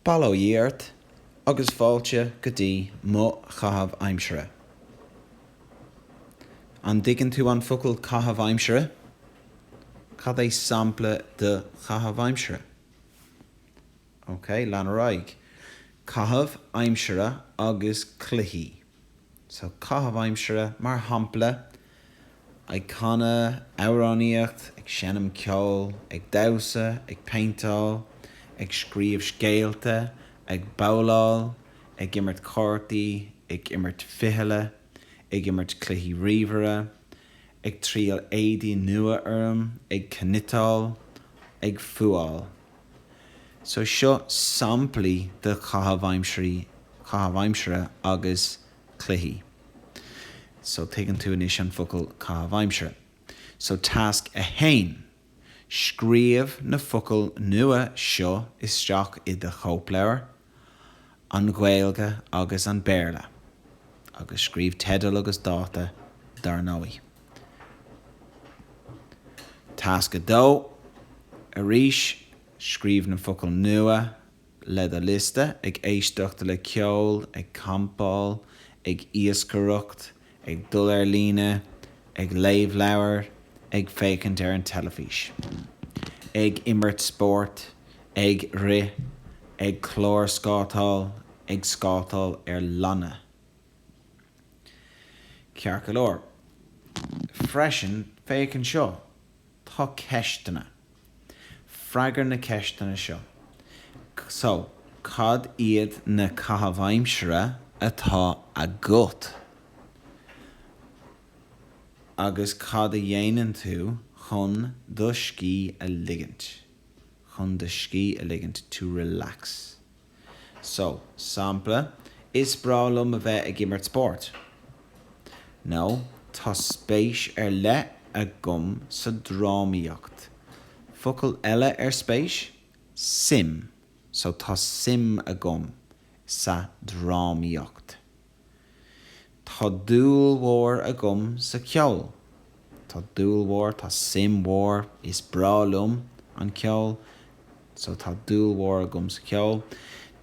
Bail ó Dhia ort agus fáilte go dtí mo chaitheamh aimsire. An dtuigeann tú an focal caitheamh aimsire? Cad é sampla de chaitheamh aimsire? Ok, lean ar aghaidh. Caitheamh aimsire agus cluichí. So caitheamh aimsire mar shampla, ag canadh, amhránaíocht, ag seinm ceoil, ag damhsa, ag péinteáil, ag scríobh scéalta, ag babhláil, ag imirt cártaí, ag imirt fichille, ag imirt cluichí ríomhaire, ag triail éadaí nua orm, ag cniotáil, ag fuáil. So seo samplaí de chaitheamh aimsirí, chaitheamh aimsire agus cluichí. So tuigeann tú anois an focal caitheamh aimsire. So tasc 1, Scríobh na focail nua seo isteach i do chóipleabhar. an Ghaeilge agus an Béarla, agus scríobh teideal agus dáta, dar ndóigh. Tasc 2, Arís, scríobh na focail nua le do liosta, ag éisteacht le ceol, ag campáil, ag iascaireacht. ag dul ar líne, ag léamh leabhair, ag féachaint ar an teilifís, ag imirt spóirt, ag rith, ag clárscátáil, ag scátáil ar lanna. Ceart go leor, freisin, féach anseo. Tá ceisteanna. Freagair na ceisteanna seo. So, cad iad na caithimh aimsire atá agat agus cad a dhéanann tú chun do scíth a ligint? chun do scíth a ligint, to relax. So, sampla, Is breá liom a bheith ag imirt spóirt. Nó, Tá spéis ar leith agam sa drámaíocht. Focal eile ar spéis? Suim. So, Tá suim agam sa drámaíocht. Tá dúil mhór agam sa ceol. Tá dúil mhór, tá suim mhór, is breá liom an ceol. So tá dúil mhór agam sa ceol.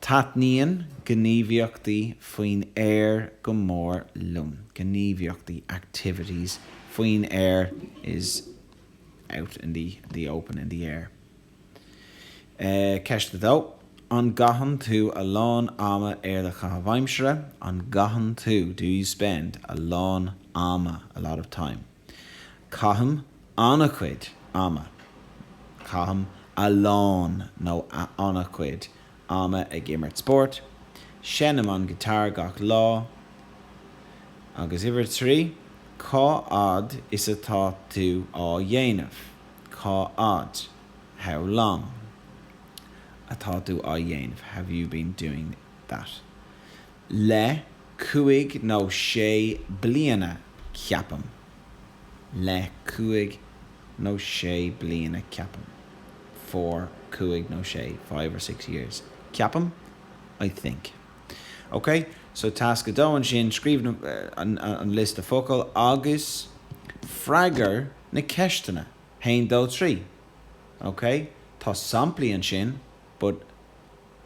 Taitníonn gníomhaíochtaí faoin aer go mór liom. Gníomhaíochtaí, activities, faoin aer is out in the, the open, in the air. Ceist 2. An gcaitheann tú a lán ama ar do chaitheamh aimsire? An gcaitheann tú Do you spend a lán ama, a lot of time? Caithim an-chuid ama Caithim a lán nó a an-chuid ama ag imirt spóirt. Seinnim an guitar gach lá. Agus uimhir 3. Cá fhad is atá tú á dhéanamh? Cá fhad, how long, atá tú á dhéanamh, have you been doing that? Le cúig nó sé bliana, ceapaim. Le cúig nó sé bliana, ceapaim. For cúig nó sé, five or six years. Ceapaim, I think. Ok, so tasc a dó ansin, scríobh na, an liosta focal agus freagair na ceisteanna, haon dó trí. Ok, tá samplaí ansin but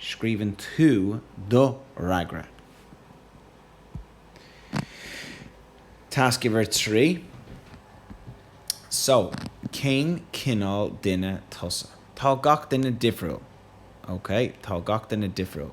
scríobhann tú do fhreagra. Tasc uimhir trí, So, cén cineál duine tusa? Tá gach duine difriúil. Ok, tá gach duine difriúil.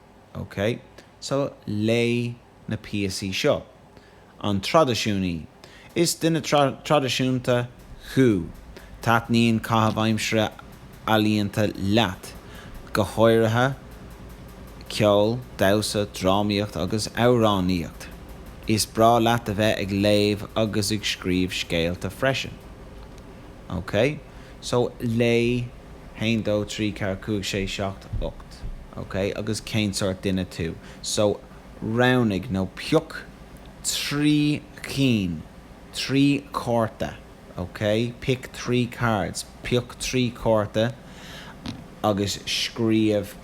OK, so léigh na píosaí seo. An traidisiúnaí. Is duine traidisiúnta thú? Taitníonn caitheamh aimsire ealaíonta leat, go háirithe ceol, damhsa, drámaíocht agus amhránaíocht. Is breá leat a bheith ag léamh agus ag scríobh scéalta freisin. OK, So léigh, haon dó trí ceathair cúig sé seacht ocht, ok? Agus cén sórt duine tú? So roghnaigh nó pioc trí chinn, trí chárta, ok? Pick three cards, pioc trí chárta agus scríobh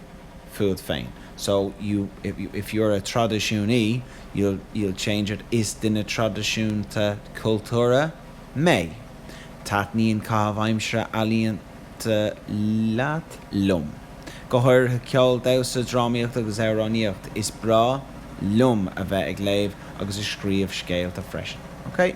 fút féin. So you, if you, if you're a traidisiúnaí you'll, you'll change it, is duine traidisiúnta cultúrtha mé. Taitníonn caitheamh aimsire ealaíonta leat, liom. Go háirithe ceol, damhsa, drámaíocht agus amhránaíocht. Is breá liom a bheith ag léamh agus ag scríobh scéalta freisin. Okay.